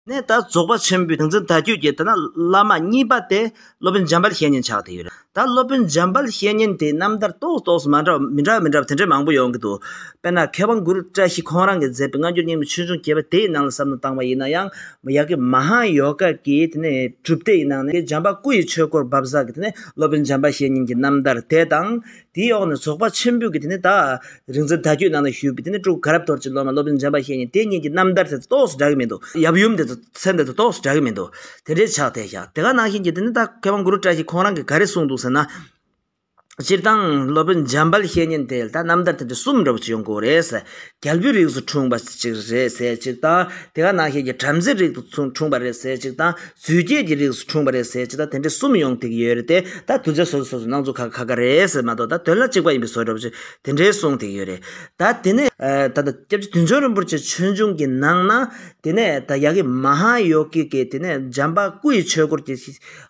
ནས་ད་རྫོགས་པ་ཆེན་པོའི་ཏིང་འཛིན་ད་ཁྱོད་ཀྱི་ད་ན་བླ་མ་གཉིས་པ་དེ་སློབ་དཔོན་འཇམ་དཔལ་བཤེས་གཉེན་ཆགས་དེ་ཡོད་རེད་ད་སློབ་དཔོན་འཇམ་དཔལ་བཤེས་གཉེན་དེ་རྣམ་ཐར་རྟོགས་རྟོགས་སུ་མ་འདྲ་བ་མི་འདྲ་བ་མི་འདྲ་བ་དེ་འདྲ་མང་པོ་ཡོང་གི་འདུག་དཔེར་ན་མཁས་དབང་གུ་རུ་བཀྲ་ཤིས་ཁོང་རང་གིས་མཛད་པའི་སྔ་འགྱུར་རྙིང་མའི་ཆོས་འབྱུང་བརྒྱད་པ་དེའི་ནང་ལ་གསབ་ནོར་བཏང་བ་ཡིན་ན་ཡང་ཡག་གི་མ་ཧཱ་ཡོ་ག་གི་དེ་ནས་གྲུབ་མཐའི་ནང་ནས་འཇམ་པ་སྐུ་ཡི་ཆོས་སྐོར་འབབ་བསགས་ཀྱི་དེ་ནས་སློབ་དཔོན་འཇམ་དཔལ་བཤེས་གཉེན་གྱི་རྣམ་ཐར་དེ་དང། དེའི་འོག་ནས་རྫོགས་པ་ཆེན་པོས་ཀྱི་དེ་ནས་ད་རིག་འཛིན་ད་ཁྱོད་ནང་ན་བཞུགས་པའི་དེ་ནས་སྤྲུལ་དགའ་རབ་དོར་ཅིག་སློབ་མ་སློབ་དཔོན་འཇམ་པ་ཤེས་ནི་དེ་གཉིས་ཀྱི་རྣམ་ཐར་དེ་ཚོ་ཏོག་སུ་འདྲ་གི་མི་འདུག་ཡབ་ཡུམ་དེ་ཚོ་ཚེ་འདི་ཚོ་ཏོག་སུ་འདྲ་གི་མི་འདུག་དེ་འདྲའི་ཕྱག་དེ་བཞག་དེ་ག་ནང་བཞིན་གྱི་དེ་ནས་ད་མཁས་དབང་གུ་རུ་བཀྲ་ཤིས་ཁོང་རང་གིས་ག་རེ་གསུངས་འདུག་ཟེར་ན། སྤྱིར་བཏང་སློབ་དཔོན་འཇམ་དཔལ་བཤེས་གཉེན་དེ་ལ་ད་རྣམ་ཐར་དེ་འདྲ་གསུམ་འདྲ་བོ་ཅིག་ཡོང་དགོས་རེད་ཟེར། རྒྱལ་པོའི་རིགས་སུ་འཁྲུངས་པ་ཅིག་རེད་ཟེར་ཅིག་དང། དེ་ག་ནང་བཞིན་གྱི་བྲམ་ཟེའི་རིགས་སུ་འཁྲུངས་པ་རེད་ཟེར་ཅིག་དང། རྫུས་སྐྱེས་ཀྱི་རིགས་སུ་འཁྲུངས་པ་རེད་ཟེར་ཅི་ད་དེ་འདྲའི་གསུམ་ཡོང་ཐིག་ཡོད་རེད་དེ་ད་དུ་ཚེ་སྲོག་གི་སོ་སོ་སྣང་ཚུལ་ཁ་ཁ་རེད་ཟེར་མ་གཏོགས་ད་དོན་ལ་གཅིག་པ་ཡིན་པའི་བཟོ་སྒྲོབ་ཅིག་དེ་འདྲའི་གསུང་ཐིག་ཡོད་རེད་ད་དེ་ནས། ད་ད་སྐྱབས་རྗེ་དུས་མཆོག་རིན་པོ་ཆེ་ཆོས་འབྱུང་གི་ནང་ན་དེ་ནས་ད་ཡ་གི་མ་ཧཱ་ཡོ་གི་ཀའི་དེ་ནས་འཇམ་པ་སྐུ་ཡི་ཆོས་སྐོར་གྱི་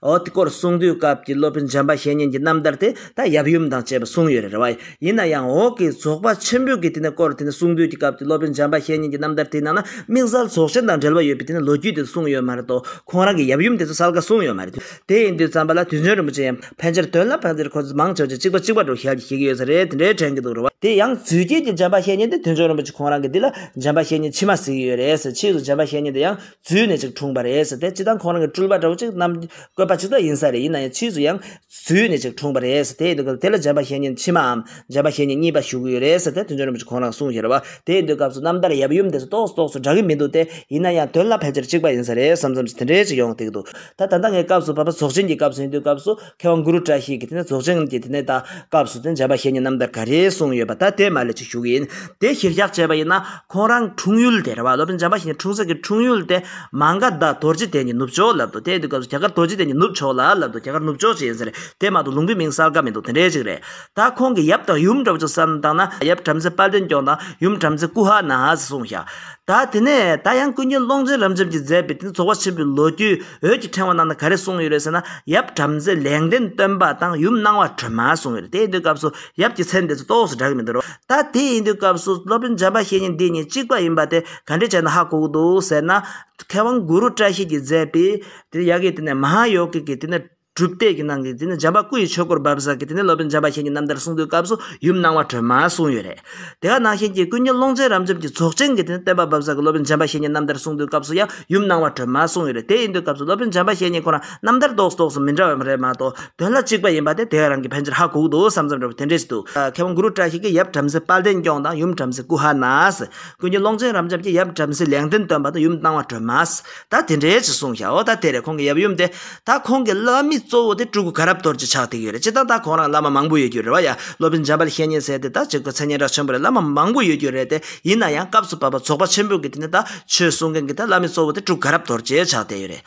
འོ་དེ་སྐོར་གསུང་དུས་སྐབས་ཀྱི་སློབ་དཔོན་འཇམ་པ་བཤེས་གཉེན་གྱི་རྣམ་ཐར་དེ་ད་ཡབ་ཡུམ་དང་བཅས་པ་གསུང་ཡོད་རེད་རེད་བ། ཡིན་ན་ཡང་འོག་གི་རྫོགས་པ་ཆེན་པོའི་དེ་ནས་སྐོར་དེ་ནས་གསུང་བསྡུས་ཀྱི་སྐབས་ཀྱི་སློབ་དཔོན་འཇམ་པ་ཤེས་གཉིས་ཀྱི་རྣམ་ཐར་དེ་ནང་ན་དམིགས་བསལ་རྫོགས་ཆེན་དང་འབྲེལ་བ་ཡོད་པའི་དེ་ནས་ལོ་རྒྱུས་དེ་གསུངས་ཡོད་མ་རེད་དོ། ཁོང་རང་གི་ཡབ་ཡུམ་དེ་ཚོ་གསལ་ཁ་གསུངས་ཡོད་མ་རེད། དེ་ཡིན་དུས་བརྩམས་པ་ལ་དུས་མཆོད་རིན་པོ་ཆེ་ཡང་ཕལ་ཆེར་དོན་ལ་ཕར་འདིར་ཁོ་ཚོས་མང་ཆེ་བ་ཆེ་གཅིག་པ་གཅིག་པ་འགྲོ་ཞལ་གྱིས་ཤེས་ཀྱི་ཡོད་ས་རེད་དེ་འདྲའི་དྲན་གྱི་འདུག་རེད་བ། དེ་ཡང་རྫུས་སྐྱེས་ཀྱི་འཇམ་པ་ཤེས་གཉིས་དེ་དུས་མཆོད་རིན་པོ་ཆེ་ཁོང་རང་གི་འདི་ལ་འཇམ་པ་ཤེས་གཉིས་ཕྱི་མ་གཟིགས་ཀྱི་ཡོད་རེད་ཟེར་ཕྱིས་སུ་འཇམ་པ་ཤེས་གཉིས་དེ་ཡང་རྫུས་ནས་ཅིག་འཁྲུངས་པ་རེད་ཟེར་དེ་སྤྱི་བཏང་ཁོང་རང་གི་སྤྲུལ་པ་འདྲ་བོ་ཅིག་རྣམས་བཀོད་པ་ཅིག་ཏུ་ཡིན་ས་རེད་ཡིན་ན་ཡང་ཕྱིས་སུ་ཡང་བཟོས་ནས་ཅིག་འཁྲུངས་པ་རེད་དེ་དུས་སྐབས་དེ་ལ་རྗེ་འབའ་ཞལ་གཉིས་ཕྱི་མའམ་རྗེ་འབའ་ཞལ་གཉིས་གཉིས་པ་བཞུགས་ཀྱི་ཡོད་རེད་ཟེར་ཏེ་དོན་གཅོད་རིན་པོ་ཆེ་ཁོང་རང་གསུངས་ཞེས་རེད་བ་དེ་དུས་སྐབས་སུ་རྣམ་ཐར་ཡབ་ཡུམ་འདི་ཚོ་རྟོགས་སུ་རྟོགས་སུ་འདྲ་གི་མི་འདུག་སྟེ་ཡིན་ན་ཡང་དོན་ལ་ཕལ་ཆེར་གཅིག་པ་ཡིན་ས་རེད་བསམ་བསམ་ཞིག་དེ་འདྲའི་ཅིག་ཡོང་སྟེ་འདུག་ད་ད་ལྟ་ངའི་སྐབས་སུ་བར་པ་རྫོགས་ཆེན་གྱི་སྐབས་སུ་ཡིན་དུས་སྐབས་སུ་མཁས་དབང་གུ་རུ་བཀྲ་ཤིས་ཀྱིས་དེ་ནས་རྫོགས་ཆེན་གྱི་དེ་ནས་ད་སྐབས་སུ་དེ་རྗེ་འབའ་ཞལ་གཉིས་རྣམ་ཐར་ག་རེ་གསུངས་ཡོད་པ་ད་དེ་མ་ལས་ཅིག་བཞུགས་ཡིན་དེ་གཞིར་བཞག་བྱས་པ་ཡིན་ན་ཁོང་རང་འཁྲུངས་ཡུལ་དེ་རེད་བ་སློབ་དཔོན་འཇམ་པ་ཤིང་འཁྲུངས་ས་ཀྱི་འཁྲུངས་ཡུལ་དེ་མང་ག་ཟླ་དོར་རྗེས་དེད་ཀྱི་ནུབ་ཕྱོགས་ལབ་འདུག་དེ་དུས་སྐབས་སུ་རྒྱ་གར་དོར་རྗེས་དེད་ཀྱི་ནུབ་ཕྱོགས་ལ་ལབ་འདུག་རྒྱ་གར་ནུབ་ཕྱོགས་ཅེས་ཡིན་ཟེར་དེ་མ་གཏོགས་ལུང་པའི་མིང་གསལ་ཁ་མི་འདུག་དེ་འདྲའི་ཅིག་རེད་ད་ཁོང་གི་ཡབ་དང་ཡུམ་འདྲ་བོ་ཚོ་བསམ་བཏང་ན་ཡབ་བྲམ་ཟེ་དཔལ་ལྡན་སྐྱོང་དང་ཡུམ་བྲམ་ཟེ་ཀུ་ཧ་ན་ཧ་ཟེར་གསུངས་ཤག་ད་དེ་ནས་ད་ཡང་ཀུན་མཁྱེན་ཀློང་ཆེན་རབ་འབྱམས་ཀྱིས་མཛད་པའི་དེ་ནས་ཚོགས་པ་ཆེན་པོའི་ལོ་རྒྱུས་འོད་ཀྱི་ཕྲེང་བ་ནང་ན་ག་རེ་གསུངས་ཡོད་རེད་ཟེར་ན་ཡབ་བྲམ་ཟེ་ལེགས་ལྡན་སྟོན་པ་དང་ཡུམ་སྣང་བ་ཁྲོས་མ་གསུངས་ཡོད་རེད་དེ་དུས་སྐབས་སུ། ཡབ་ཀྱི་མཚན་འདི་ཚོ་ཏོག་སུ་གྲག་གི་མི་འདུག་རོ། ད་དེ་ཡིན་དུས་སྐབས་སུ་སློབ་དཔོན་འཇམ་པ་ཤེས་གཉིས་འདི་གཉིས་གཅིག་པ་ཡིན་པ་དེ་ག་འདྲས་བྱས་ན་ཧ་གོ་གི་འདུག་ཟེར་ན། མཁས་དབང་གུ་རུ་བཀྲ་ཤིས་ཀྱིས་མཛད་པའི། དེ་ནས་ཡ་གིས་དེ་ནས་མ་ཧཱ་ཡོ་གི་གིས་དེ་ནས་གྲུབ་གཏད་ཀྱི་ནང་གི་དེ་ནས་འཇམ་པ་སྐུ་ཡི་ཆོས་སྐོར་འབབ་ས་ཀྱི་དེ་ནས་སློབ་དཔོན་འཇམ་པ་ཤེས་གཉིས་རྣམ་ཐར་གསུང་དུས་སྐབས་སུ་ཡུམ་སྣང་བ་ཁྲོས་མ་གསུངས་ཡོད་རེད། དེ་ག་ནང་བཞིན་གྱི་ཀུན་མཁྱེན་ཀློང་ཆེན་རབ་འབྱམས་ཀྱི་རྫོགས་ཆེན་གྱི་དེ་ནས་བསྟན་པ་འབབ་ས་ཀྱི་སློབ་དཔོན་འཇམ་པ་ཤེས་གཉིས་རྣམ་ཐར་གསུང་དུས་སྐབས་སུ་ཡང་ཡུམ་སྣང་བ་ཁྲོས་མ་གསུངས་ཡོད་རེད་དེ་ཡིན་དུས་སྐབས་སུ་སློབ་དཔོན་འཇམ་པ་ཤེས་གཉིས་ཁོ་རང་རྣམ་ཐར་རྡོག་རྡོག་སུ་མི་འདྲ་བ་རེད་མ་གཏོགས་དོན་ལ་གཅིག་པ་ཡིན་པ་དེ་དེ་རང་གི་ཕན་ཕྱིར་ཧ་གོ་གི་འདུག་བསམ་བསམ་རེད་བ་དེ་འདྲས་ཞིག་འདུག་མཁས་དབང་གུ་རུ་བཀྲ་ཤིས་ཀྱིས་ཡབ་བྲམ་ཟེ་དཔལ་ལྡན་སྐྱོང་དང་ཡུམ་བྲམ་ཟེ་ཀུ་ཧ་ནའས་ཀུན་མཁྱེན་ཀློང་ཆེན་རབ་འབྱམས་ཀྱིས་ཡབ་བྲམ་ཟེ་ལེགས་ལྡན་སྟོན་པ་དང་ཡུམ་སྣང་བ་སྒྲོལ་མའས་ད་དེ་འདྲས་ཞིག་གསུངས་ཤའོ་ད་དེ་རེད་ཁོང་གི་ཡབ་ཡུམ་དེ། ད་ཁོང་གི་བླ་མི་གཙོ་བོ་དེ་སྤྲུལ་སྐུ་ག་རབ་གཏོར་གྱི་ཕྱག་ཐིག་ཡོད་རེད་སྤྱི་དང་ད་ཁོང་རང་བླ་མ་མང་པོ་ཡོད་རྒྱུ་རེད་བ་ཡ་སློབ་དཔོན་འཇམ་པ་ལྷས་ཉན་ཟེར་དེ་ད་གཅིག་པུ་མཚན་སྙན་གྲགས་ཆེན་པོ་རེད་བླ་མ་མང་པོ་ཡོད་རྒྱུ་རེད་དེ་ཡིན་ན་ཡང་སྐབས་སུ་བབ་པ་ཚོགས་པ་ཆེན་པོ་གི་དེ་ནས་ད་ཆོས་གསུང་མཁན་གི་ད་བླ་མི་གཙོ་བོ་དེ་སྤྲུལ་སྐུ་ག་རབ་གཏོར་གྱི་ཕྱག་དེ་ཡོད་རེད།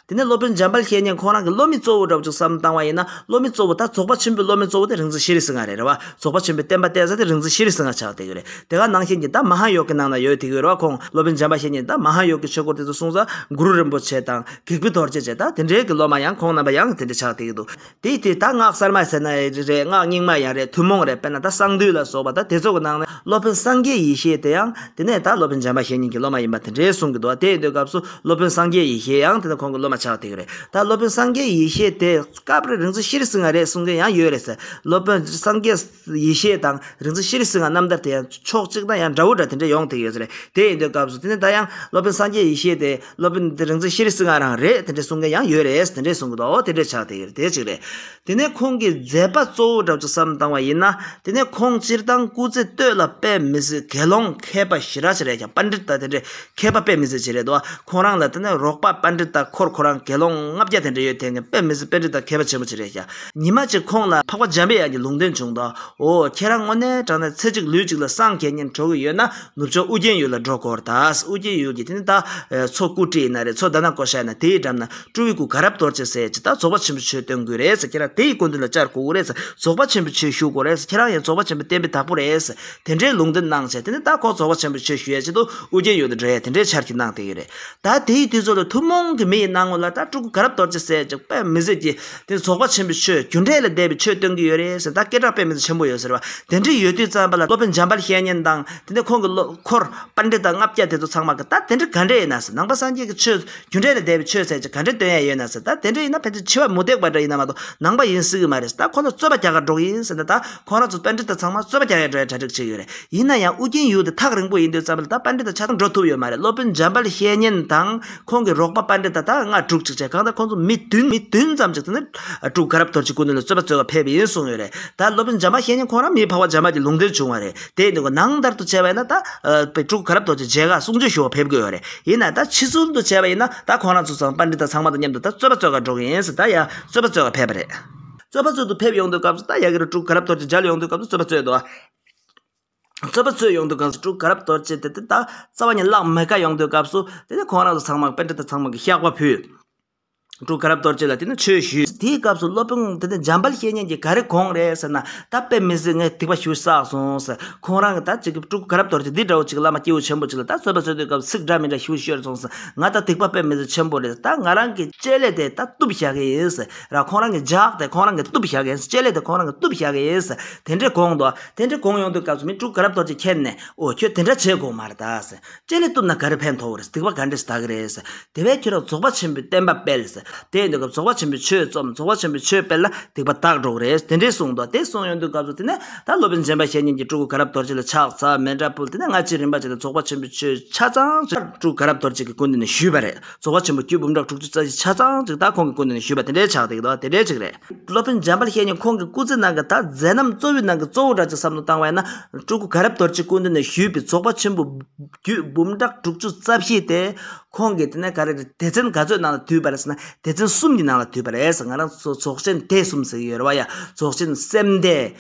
དེ་ནས་སློབ་དཔོན་འཇམ་དཔལ་ཤེས་གཉེན་ཁོང་རང་གི་སློབ་མི་གཙོ་བོ་འདྲ་བོ་ཅིག་བསམ་བཏང་བ་ཡིན་ན་སློབ་མི་གཙོ་བོ་ད་རྫོགས་པ་ཆེན་པོའི་སློབ་མའི་གཙོ་བོ་དེ་རིག་འཛིན་ཤེས་རིག་སྲིད་ང་རེད་རེད་བ་རྫོགས་པ་ཆེན་པོའི་བསྟན་པ་བསྟན་ས་དེ་རིག་འཛིན་ཤེས་རིག་སྲིད་ང་ཆགས་བསྡད་ཡོད་རེད་དེ་ག་ནང་བཞིན་གྱི་ད་མ་ཧཱ་ཡོ་གའི་ནང་ན་ཡོད་དེ་གི་ཡོད་རེད་བ་ཁོང་སློབ་དཔོན་འཇམ་དཔལ་ཤེས་གཉེན་ད་མ་ཧཱ་ཡོ་གའི་ཆོས་སྐོར་དེ་ཚོ་གསུང་ས་གུ་རུ་རིན་པོ་ཆེ་དང་གེགས་བུ་དོར་བྱེད་བཅས་ད་དེ་འདྲའི་གི་སློབ་མ་ཡང་ཁོང་རྣམ་པ་ཡང་དེ་འདྲ་ཆགས་བསྡད་ཀྱི་འདུག་དེ་དེ་ད་སྔགས་གསར་མ་ཟེར་ན་རེད་སྔགས་རྙིང་མ་ཡང་རེད་ཐུན་མོང་རེད་དཔེར་ན་ད་གསང་འདུས་ལ་སོགས་པ་ད་དེ་ཚོ་གི་ནང་ནས་སློབ་དཔོན་སངས་རྒྱས་ཡེ་ཤེས་དེ་ཡང་དེ་ནས་ད་སློབ་དཔོན་འཇམ་པ་ཞེ་གཉིས་ཀྱི་སློབ་མ་ཡིན་པ་དེ་འདྲའི་གསུང་གི་འདུག་བ་དེ་འདོད་སྐབས་སུ་སློབ་དཔོན་སངས་རྒྱས་ཡེ་ཤེས་ཡང་དེ་ནས་ཁོང་གི་སློབ་མ་ཆགས་དེ་གི་རེད་ད་སློབ་དཔོན་སངས་རྒྱས་ཡེ་ཤེས་དེ་སྐབས་རེ་རིང་སུ་ཤི་རེ་སུ་ང་རེད་གསུང་མཁན་ཡང་ཡོད་རེད་ཟེར་སློབ་དཔོན་སངས་རྒྱས། ཡེ་ཤེས་དང་རིག་འཛིན་ཤེས་རིག་སིལ་ངག་རྣམ་ཐར་དེ་ཡང་ཕྱོགས་གཅིག་ན་ཡང་འདྲ་བོ་འདྲ་དེ་འདྲ་ཡོང་ཐེངས་ཡོད་ས་རེད་དེ་ཡིན་དུས་སྐབས་སུ་དེ་ནས་ད་ཡང་སློབ་དཔོན་སངས་རྒྱས་ཡེ་ཤེས་དེས་སློབ་དཔོན་རིག་འཛིན་ཤེས་རིག་སིལ་ངག་རང་རེད་དེ་འདྲ་གསུང་མཁན་ཡང་ཡོད་རེད་དེ་འདྲས་གསུང་གི་འདུག་ཨོ་དེ་འདྲས་ཆགས་ཐེངས་ཡོད་རེད་དེ་གཅིག་རེད། དེ་ནས་ཁོང་གིས་མཛད་པ་གཙོ་བོ་འདྲ་བཅུ་བསམ་བཏང་བ་ཡིན་ན་དེ་ནས་ཁོང་སྤྱིར་བཏང་སྐུ་ཚེ་སྟོད་ལ་དཔེ་མི་སྲིད་དགེ་སློང་མཁས་པ་ཞི་རག་ཆེ་རེད་ཀྱང་པཎ་ཏྲི་སྟ་དེ་འདྲས་མཁས་པ་དཔེ་མི་སྲིད་ཆེ་རེད་འདུག་ཁོང་རང་ལ་དེ་ནས་རོགས་པ་པཎ་ཏྲི་སྟ་འཁོར་ཁོ་རང་དགེ་སློང་ལྔ་བརྒྱ་དེ་འདྲས་ཡོད་ཐེངས་ནས་དཔེ་མི་སྲིད་དཔེ་ཏྲི་སྟ་མཁས་པ་ཆེན་པོ་ཆེ་རེད་ཀྱང། ཉི་མ་གཅིག་ཁོང་ལ་འཕགས་པ་འཇམ་པའི་དབྱངས་ཀྱི་ལུང་སྟོན་བྱུང་དོ། འོ་ཁྱེད་རང་དངོས་གནས་དྲང་ནས་ཚེ་གཅིག་ལུས་གཅིག་ལ་སངས་རྒྱས་ཉིད་འགྲོ་གི་ཡོད་ན་ནུབ་ཕྱོགས་ཨུ་རྒྱན་ཡུལ་ལ་འགྲོ་གོར་དཱ། ཨུ་རྒྱན་ཡུལ་གྱི་དེ་ནི་ད་མཚོ་སྐུ་བཀྲིས་ན་རེ་མཚོ་ད་ན་བསྐོ་ཤ་ན་དེའི་འགྲམ་ན་སྤྲུལ་བའི་སྐུ་ག་རབ་དོར་ཅེས་ཟེར་ཅི་ད་རྫོགས་པ་ཆེན་པོ་ཆོས་སྟོན་དགོས་རེད་ཁྱེད་རང་དེ་ཡི་སྐུ་མདུན་ལ་བཅར་དགོས་རེད་རྫོགས་པ་ཆེན་པོའི་ཆོས་ཞུ་དགོས་རེད་ཁྱེད་རང་ཡང་རྫོགས་པ་ཆེན་པོའི་བསྟན་པའི་བདག་པོ་རེད་དེ་འདྲའི་ལུང་འདི་གནང་བྱས་དེ་ནི་ད་ཁོ་རྫོགས་པ་ཆེན་པོའི་ཆོས་ཞུ་ཡ་བྱེད་དུ་ཨུ་རྒྱན་ཡུལ་དུ་འགྲོ་ཡ་དེ་འདྲའི་འཆར་གྱིས་གནང་བསྡད་ཡོད་རེད་ད་དེ་ཡི་དུས་ཚོད་ལ་ཐུན་མོང་གི་མི་ཡི་སྣང་ངོ་ལ་ད་སྤྲུལ་སྐུ་ག་རབ་དོར་ཅེས་ཟེར་ཅིག་དཔེ་མི་གཟིགས་ཀྱི་དེ་རྫོགས་པ་ཆེན་པོའི་ཆོས་རྒྱུ་འབྲས་ལས་འདས་པའི་ཆོས་སྟོན་གྱི་ཡོད་རེད་ཟེར་ད་སྐད་གྲགས་དཔེ་མེད་དུ་ཆེན་པོ་ཡོད་ཟེར་བ་དེ་འདྲ་ཡོད་དུས་རྩམ་པ་ལ་སློབ་དཔོན་འཇམ་དཔལ་བཤེས་གཉེན་དང་དེ་ནས་ཁོང་གི་བློ་འཁོར་དཔལ་འབྲི་དང་ལྔ་བརྒྱ་དེ་ཚོ་ཚང་མ་གི་ད་དེ་འདྲ་ག་འདྲས་ཡིན་ན་ཟེར་ནང་པ་སངས་རྒྱས་ཀྱི་ཆོས་རྒྱུ་འབྲས་ལས་འདས་པའི་ཆོས་ཟེར་གྱི་ག་འདྲས་སྟོན་ཡས་ཡོད་ན་ཟེར་ད་དེ་འདྲས་ཡིན་ན་ཕན་ཚུན་འཆི་བ་མུ་སྟེགས་པ་འདྲ་ཡིན་ན་མ་གཏོགས་ནང་པ་ཡིན་སྲིད་གི་མ་རེད་ཟེར་ད་ཁོང་ཚོ་རྩོད་པ་རྒྱག་ག་འགྲོ་གི་ཡིན་ཟེར་ན་ད་ཁོང་རང་ཚོ་དཔལ་འབྲི་དང་ཚང་མ་རྩོད་པ་རྒྱག་ཡས་འགྲོ་ཡས་གྲ་སྒྲིག་བྱས་ཡོད་རེད་ཡིན་ན་ཡང་ཨུ་རྒྱན་ཡུལ་དེ་ཐག་རིང་པོ་ཡིན་དུས་རྩམ་པ་ལ་ད་དཔལ་འབྲི་དང་ཆ་ཚང་འགྲོ་ཐུབ་ཡོད་མ་རེད་སློབ་དཔོན་འཇམ་དཔལ་བཤེས་གཉེན་དང་ཁོང་གི་རོགས་པ་དཔའ་འདྲེ་ད་ལྟའང་སྔར་དྲུག་ཅིག་བྱས་གང་ལྟར་ཁོང་ཚོ་མི་བདུན་མི་བདུན་ཙམ་ཅིག་ནི་དྲུག་ག་རབ་དོར་གྱི་སྐུ་ནི་ལ་རྩོད་པ་རྩོད་བར་ཕེབས་པ་ཡིན་གསུངས་ཡོད་རེད་ད་སློབ་དཔོན་འཇམ་པ་ཤེས་ཉིན་ཁོང་རང་མིའི་འཕགས་པ་འཇམ་དཔལ་གྱི་ལུང་དོན་བྱུང་བ་རེད་དེ་ནི་ནང་ལྟར་དུ་བྱས་པ་ཡིན་ན་ད་པའི་དྲུག་ག་རབ་དོར་གྱི་རྗེས་འགག་གསུང་ཆོས་ཞུ་བར་ཕེབས་དགོས་ཡོད་རེད་ཡིན་ན་ད་ཕྱི་ཚུལ་དུ་བྱས་པ་ཡིན་ན་ད་ཁོང་རང་ཚོ་ཚང་དཔའ་འདྲེ་དང་ཚང་མ་དང་མཉམ་དུ་ད་རྩོད་པ་རྩོད་གར་འགྲོ་གི་ཡིན་ཟེར་ད་ཡང་རྩོད་པ་རྩོད་གར་ཕེབས་པ་རེད། རྩོད་པ་རྩོད་དུ་ཕེབས་ཡོང་དོན་སྐབས་སུ་ད་ཡ་གི་རུ་དྲུག་ག་རབ་དོར་གྱི་མཇལ་ཡོང་དོན་སྐབས་སུ་རྩོད་པ་རྩོད་དོ། རྩོད་པ་རྩོད་ཡོང་དུས་གངས་སུ་དྲུག་ག་རབ་གཏོར་བྱེད་དེ་དེ་དག་རྩ་བ་ཉིད་བརླག་མི་དཀའ་ཡོང་དུས་སྐབས་སུ། དེ་ནས་ཁོང་རང་ཚོ་ཚང་མར་དཔེ་འདྲི་དང་ཚང་མ་གིས་བཤགས་པ་ཕུལ། དྲུག་ག་རབ་གཏོར་བྱེད་ལ་དེ་ནས་ཆོས་ཞུས། དེའི་སྐབས་སུ་སློབ་དཔོན་དེ་ནས་འཇམ་དཔལ་བཤེས་གཉེན་གྱིས་ག་རེ་གོང་རེད་ཟེར་ན། ད་དཔེ་མི་སྲིད་ངས་ཐིགས་པ་ཞུས་བསགས་སོང་ཟེར། ཁོང་རང་གིས་ད་ཅིག་དྲུག་ག་རབ་གཏོར་བྱེད་འདི་འདྲ་བོ་ཅིག་བླ་མ་སྐྱེས་བུ་ཆེན་པོ་ཅིག་ལ་ད་རྩོད་པ་རྩོད་དུས་སྐབས་སུ་ཚིག་འདྲ་མི་འདྲ་ཞུ་ཤོར་སོང་ཟེར། ང་ད་ཐིགས་པ་དཔེ་མི་སྲིད་ཆེན་པོ་རེད་ད་ང་རང་གིས་དཔྱད་ལས་དེ་ད་གཏུབ་བཞག་གི་ཡིན་ཟེར། ར་ཁོང་རང་གིས་བརྒྱག་དེ་ཁོང་རང་གིས་གཏུབ་བཞག་གི་ཡིན་ཟེར་དཔྱད་ལས་དེ་ཁོང་རང་གིས་གཏུབ་བཞག་གི་ཡིན་ཟེར། དེ་འདྲའི་གོང་དུ། དེ་འདྲའི་གོང་ཡོང་དུས་སྐབས་སུ་མི་དྲུག་ག་རབ་རྡོ་རྗེ་ཁྱེར་ནས་ཨོ་ཁྱོད་དེ་འདྲ་བྱེད་དགོས་མ་རེད་དྭ། ཅེ་ལེ་བཏུབ་ན་ག་རེ་ཕན་ཐོག་རེད་སྡིག་པ་ག་འདྲས་བདག་གི་རེད། དེ་བས་ཁྱོད་རང་རྫོགས་པ་ཆེན་པོའི་བསྟན་པ་སྤེལ། དེ་ཡོང་དུས་སྐབས་རྫོགས་པ་ཆེན་པོའི་ཆོས་རྩོམ་རྫོགས་པ་ཆེན་པོའི་ཆོས་སྤེལ་ལ་སྡིག་པ་དག་འགྲོ་གི་རེད་དེ་འདྲས་གསུངས་འདུག་དེ་གསུངས་ཡོང་དུས་སྐབས་སུ་དེ་ནས་ད་སློབ་དཔོན་རྗེན་པ་ཞེ་གཉིས་ཀྱིས་སྤྲུལ་སྐུ་ག་རབ་རྡོ་རྗེ་ལ་ཕྱག་འཚལ་མེ་འདྲ་ཕུལ་དེ་ནས་སྔ་ཕྱིའི་རིམ་པ་བྱས་ཏེ་རྫོགས་པ་ཆེན་པོའི་ཆོས་ཆ་ཚང་བཅུ་དྲུག་ག་རབ་རྡོ་རྗེ་གི་སྐུ་མདུན་ནས་ཞུས་པ་རེད། རྫོགས་པ་ཆེན་པོ་རྒྱུད་འབུམ་ཕྲག་དྲུག་ཅུ་རྩ་བཞི་ཆ་ཚང་གཅིག་དག་ཁོང་གི་སྐུ་ནང་ནས་ཞུས་པ་དེ་འདྲའི་ཕྱག་དེ་དེ་འདྲའི་གཅིག་རེད། སློབ་དཔོན་འཇམ་དཔལ་བཤེས་གཉེན་ཁོང་གི་སྐུ་ཚེ་ནང་གི་དག་མཛད་རྣམས་གཙོ་བོའི་ནང་གི་གཙོ་བོ་འདྲ་གཅིག་བསམ་དུ་བཏང་བས་ན། སྤྲུལ་སྐུ་དགའ་རབ་རྡོ་རྗེའི་སྐུ་མདུན་ནས་ཞུས་པའི་རྫོགས་པ་ཆེན་པོ་རྒྱུད་འབུམ་ཕྲག་དྲུག་ཅུ་རྩ་བཞི་དེ། ཁོང་གི་དེ་ནས་ག་རེ་རེད་སྡེ་ཚན་ག་ཚོད་ནང་ལ་དུས་པ་རེད་ཟེར་ན་སྡེ་ཚན་གསུམ་གྱི་ནང་ལ་དུས་པ་རེད་ཟེར་ང་རང་ཚོ་རྫོགས་ཆེན་སྡེ་གསུམ་ཟེར་གྱི་ཡོད་རེད་བ་ཡ་རྫོགས་ཆེན་སེམས་སྡེ།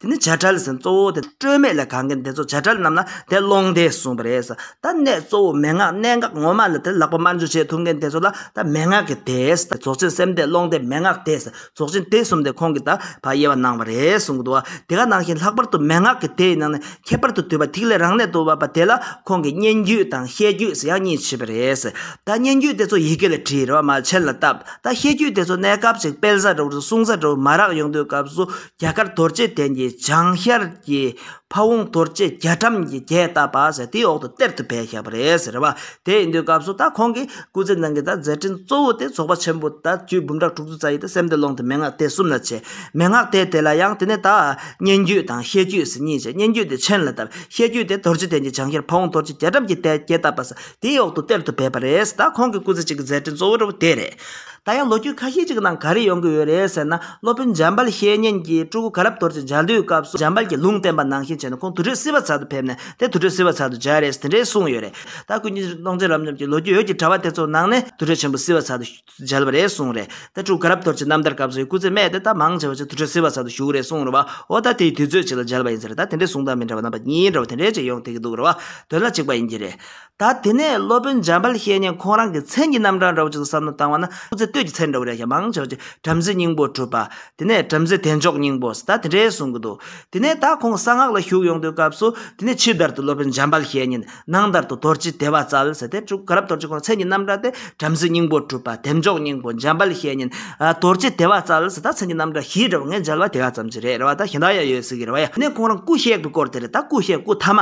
དེ་ནི་བྱ་བྲལ་ཟིན་གཙོ་བོ་དེ་སྤྲོས་མེད་ལས་གང་གིན་དེ་ཚོ་བྱ་བྲལ་རྣམས་ལ་དེ་ཀློང་དེས་གསུངས་པ་རེད། ད་གནད་གཙོ་བོ་མན་ངག་གནད་འགག་ངོ་མ་ལ་དེ་ལག་པ་དམར་འཇུ་བྱེད་ཐུབ་མཁན་དེ་ཚོ་ལ་ད་མན་ངག་གི་དེ་རྫོགས་ཆེན་སེམས་དེ་ཀློང་དེ་མན་ངག་དེ་རྫོགས་ཆེན་དེ་གསུམ་དེ་ཁོང་གིས་ད་ཕ་དབྱེ་བ་གནང་བ་རེད་གསུངས་ཀྱི་འདུག་བ་དེ་ག་ནང་བཞིན་ལྷག་པར་དུ་མན་ངག་གི་དེ་ཡི་ནང་ནས་ཁྱད་པར་དུ་དུས་པ་ཐིག་ལེ་རང་གནད་དུ་བབས་པ་དེ་ལ་ཁོང་གིས་སྙན་བརྒྱུད་དང་བཤད་བརྒྱུད་ཟེར་ཡག་གཉིས་བྱས་པ་རེད། ད་སྙན་བརྒྱུད་དེ་ཚོ་ཡི་གེ་ལས་བྲིས་རེ་བ་མ་བྱས་ལ་སྟབས་ད་བཤད་བརྒྱུད་དེ་ཚོ་གནས་སྐབས་ཅིག་སྤེལ་ས་རེ་བ་དང་གསུང་ས་རེ་བ་མ་རག་ཡོང་དུས་སྐབས་སུ་རྒྱ་གར་དོར་བྱེད་དན་གྱི་བྱང་ཤར་གྱི་ཕ་བོང་དོར་བྱེད་རྒྱ་གྲམ་གྱི་རྒྱས་བཏབ་པ་ཟེར་དེའི་འོག་ཏུ་གཏེར་དུ་བས་བཞག་པ་རེད་ཟེར་རེད་བ། དེ་ཡིན་དུས་སྐབས་སུ་ད་ཁོང་གིས་སྐུ་ཚེ་ནང་གི་ད་མཛད་འཕྲིན་གཙོ་བོ་དེ་ཚོགས་པ་ཆེན་པོ་ད་བཅུའི་འབུམ་ཕྲག་དྲུག་ཅུ་རྩ་ཡི་ད་སེམས་བདེ་ཀློང་དུ་མན་ངག་དེ་གསུམ་ལ་བྱས། མན་ངག་དེ་དེ་ལ་ཡང་དེ་ནས་ད་སྙན་བརྒྱུད་དང་བཤད་བརྒྱུད་ཟེར་གཉིས་བྱས་སྙན་བརྒྱུད་དེ་མཆན་ལ་བཏབ་བཤད་བརྒྱུད་དེ་དོར་བྱེད་དན་གྱི་བྱང་ཤར་ཕ་བོང་དོར་བྱེད་རྒྱ་གྲམ་གྱི་རྒྱས་བཏབ་པ་ཟེར་དེའི་འོག་ཏུ་གཏེར་དུ་བས་པ་རེད་ཟེར་ད་ཁོང་གི་སྐུ་ཚེ་གཅིག་གི་མཛད་འཕྲིན་གཙོ་བོ་རེ་བ་དེ་རེད། ད་ཡང་ལོ་རྒྱུས་ཁ་ཤས་ཅིག་ནང་ག་རེ་ཡོང་གི་ཡོད་རེད་ཟེར་ན་སློབ་དཔོན་འཇམ་དཔལ་བཤེས་གཉེན་གྱིས་སྤྲུལ་སྐུ་ག་རབས་དོར་ཅིག་མཇལ་དུས་སྐབས་སུ་འཇམ་དཔལ་གྱིས་ལུང་བསྟན་པ་ནང་བཞིན་བྱས་ན་ཁོང་དུར་ཁྲོད་སིལ་བ་ཚལ་དུ་ཕེབས་ནས་དེ་དུར་ཁྲོད་སིལ་བ་ཚལ་དུ་མཇལ་རེས་དེ་འདྲའི་གསུངས་ཡོད་རེད་ད་ཀུན་མཁྱེན་གསུང་སྟོང་རྩེ་རབ་འབྱམས་ཀྱི་ལོ་རྒྱུས་ཡོད་ཀྱི་དྲ་བ་དེ་ཚོ་ནང་ནས་དུར་ཁྲོད་ཆེན་པོ་སིལ་བ་ཚལ་དུ་མཇལ་བ་རེད་གསུངས་རེད་ད་སྤྲུལ་སྐུ་ག་རབས་དོར་ཅིག་རྣམ་ཐར་སྐབས་སུ་ཡི་སྐུ་ཚེ་སྨད་དེ་ད་མང་ཆེ་བ་ཅིག་དུར་ཁྲོད་སིལ་བ་ཚལ་དུ་བཞུགས་རེད་གསུངས་རེད་བའོ་ད་དེའི་དུས་ཚོད་ཅིག་ལ་མཇལ་བ་ཡིན་ཟེར་རེད་ད་དེ་འདྲའི་གསུང་སྟངས་མི་འདྲ་བ་རྣམ་པ་གཉིས་འདྲ་བ་དེ་འདྲའི་ཅིག་ཡོང་ཐེ་གི་འདུག་རེད་བ་དོན་ལ་གཅིག་པ་ཡིན་གྱི་རེད། ད་དེ་ནས་སློབ་དཔོན་འཇམ་དཔལ་བཤེས་གཉེན་ཁོང་རང་གི་མཚན་གྱི་རྣམ་གྲངས་འདྲ་བོ་ཅིག་བསམ་མནོ་བཏང་བ་ན་སྐུ་ཚེ་སྟོད་ཀྱི་མཚན་འདྲ་བོ་རེ་ཞིག་མང་ཆེ་བ་ཅིག་བྲམ་ཟེའི་སྙིང་པོར་གྲུབ་པ། དེ་ནས་བྲམ་ཟེ་དལ་འབྱོག་སྙིང་པོ་ཟེར་ད་དེ་འདྲའི་གསུང་གི་འདུག་དེ་ནས་ད་ཁོང་གསང་སྔགས་ལ་ཞུགས་ཡོང་དུས་སྐབས་སུ་དེ་ནས་ཕྱི་དར་དུ་སློབ་དཔོན་འཇམ་དཔལ་བཤེས་གཉེན་ནང་དར་དུ་དོར་སྤྱི་དེ་བ་ཙལ་ཟེར་དེ་དྲུག་ག་རབ་དོར་སྤྱི་ཁོང་མཚན་གྱི་རྣམ་གྲངས་དེ་བྲམ་ཟེའི་སྙིང་པོར་གྲུབ་པ་དལ་འབྱོག་སྙིང་པོ་འཇམ་དཔལ་བཤེས་གཉེན། དོར་སྤྱི་དེ་བ་ཙལ་ཟེར་ད་མཚན་གྱི་རྣམ་གྲངས་བཞི་འདྲ་བོ་ངས་མཇལ་བ་དེ་ག་ཙམ་གྱི་རེད་རེ་བ་ད་གཞན་དག་ཡང་ཡོད་སྲིད་གི་རེ་བ་ཡ་དེ་ནས་ཁོང་རང་སྐུ་གཤེགས་པའི་སྐོར་དེ་རེད་ད་སྐུ་གཤེགས་སྐུ་ཐ་མ་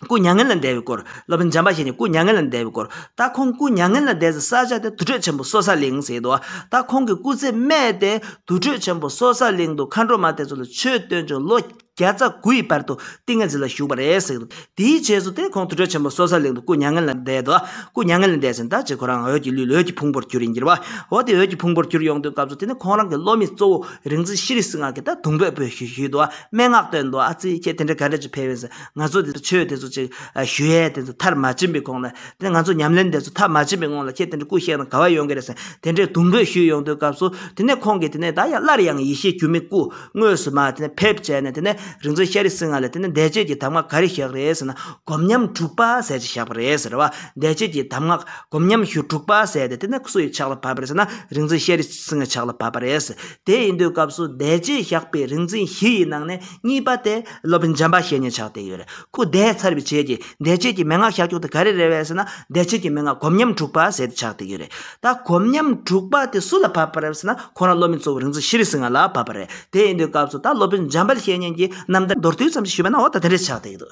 སྐུ་མྱ་ངན་ལས་འདས་པའི་སྐོར། སློབ་དཔོན་འཇམ་པ་ཞིག་ནས་སྐུ་མྱ་ངན་ལས་འདས་པའི་སྐོར། ད་ཁོང་སྐུ་མྱ་ངན་ལས་འདས་ཚེ་ས་ཕྱོགས་དེ་དུར་ཁྲོད་ཆེན་པོ་སོ་ས་གླིང་ཟེར་དུ། ད་ཁོང་གི་སྐུ་ཚེ་སྨད་དེ་དུར་ཁྲོད་ཆེན་པོ་སོ་ས་གླིང་དུ་མཁའ་འགྲོ་མ་དེ་ཚོ་ལ་ཆོས་སྟོན་བྱུང་ལོ་བརྒྱ་རྩ་དགུའི་བར་དུ་ཏིང་ངེ་འཛིན་ལ་བཞུགས་པ་རེད་ཟེར། དེའི་རྗེས་སུ་དེ་ཁོང་དུར་ཁྲོད་ཆེན་པོ་སོ་ས་གླིང་དུ་སྐུ་མྱ་ངན་ལས་འདས་དུ། སྐུ་མྱ་ངན་ལས་འདས་ཟིན་ད་རྗེས་ཁོ་རང་འོད་ཀྱི་ལུས་ལ་འོད་ཀྱི་ཕུང་པོར་གྱུར་ཡིན་གྱི་རེད། འོ་དེ་འོད་ཀྱི་ཕུང་པོར་གྱུར་ཡོང་དུས་སྐབས་སུ་དེ་ནས་ཁོང་རང་གི་སློབ་མའི་གཙོ་བོ་རིག་འཛིན་ཤྲཱི་རིགས་སུ་སྔགས་ཀྱི་ད་དུང་འབོད་འབོད་ཞུས་དུས་སྨྲེ་སྔགས་བཏོན་དུ་ཨ་ཙི་ཁྱེད་དེ་འདྲ་ག་འདྲ་ཅིག་ཕེབས་ཡིན་ཟེར། ང་ཚོ་དེ་ཚོ་ཆོས་དེ་ཚོ་ཅིག་ཞུ་ཡས་དེ་ཚོ་མཐར་མ་ཕྱིན་པའི་གོང་ལ་དེ་ང་ཚོ་ཉམས་ལེན་དེ་ཚོ་མཐར་མ་ཕྱིན་པའི་སྔོན་ལ་ཁྱེད་དེ་འདྲའི་སྐུ་གཤེགས་ན་ག་བ་ཡོང་གི་རེད་ཟེར་དེ་འདྲའི་དུང་འབོད་ཞུས་ཡོང་དུས་སྐབས་སུ་དེ་ནས་ཁོང་གིས་དེ་ནས་ད་ཡང་སླར་ཡང་ཡེ་ཤེས་འགྱུར་མེད་སྐུ་དངོས་སུ་མ་དེ་ནས་ཕེབས་བྱས་ནས་དེ་ནས་རིག་འཛིན་ཤ་རི་སི་ང་ལས་དེ་ནས་འདས་རྗེས་ཀྱི་གདམས་ངག་ག་རེ་བཞག་རེད་ཟེར་ན་སྒོམ་ཉམས་དྲུག་པ་ཟེར་ཅིག་བཞག་པ་རེད་ཟེར་བ་འདས་རྗེས་ཀྱི་གདམས་ངག་སྒོམ་ཉམས་ཞུ་དྲུག་པ་ཟེར་ཏེ་དེ་ནས་སུ་ཡི་ཕྱག་ལ་བབས་པ་རེད་ཟེར་ན་རིག་འཛིན་ཤ་རི་སི་ངའི་ཕྱག་ལ་བབས་པ་རེད་ཟེར་དེ་ཡིན་དུས་སྐབས་སུ་འདས་རྗེས་བཞག་པའི་རིག་འཛིན་བཞི་ཡི་ནང་ནས་གཉིས་པ་དེ། སློབ་དཔོན་འཇམ་པ་བཤེས་གཉེན་ཕྱག་དེ་ཡོད་རེ་སྐུ་བདེ་ཚར་བའི་ཆེད་ཀྱི་འདས་བྱས་ཀྱི་མན་ངག་ཞག་བཅུ་དང་ག་རེ་རེ་བས་ཟེར་ན་འདས་བྱས་ཀྱི་མན་ངག་གོམ་ཉམས་དྲུག་པ་ཟེར་ཏེ་ཕྱག་དེ་ཡོད་རེད་ད་གོམ་ཉམས་དྲུག་པ་དེ་སུ་ལ་བབས་པ་རེད་ཟེར་ན་ཁོ་རང་སློབ་མའི་གཙོ་བོ་རིག་འཛིན་ཤྲཱི་རི་སིང་ཧ་ལ་བབས་པ་རེད་དེ་ཡིན་དུས་སྐབས་སུ་ད་སློབ་དཔོན་འཇམ་པ་བཤེས་གཉེན་གྱིས་རྣམ་ཐར་མདོར་བསྡུས་ཙམ་ཞུས་པ་ན་འོ་ད་དེ་འདྲའི་ཕྱག་དེ་ཡོད་དོ།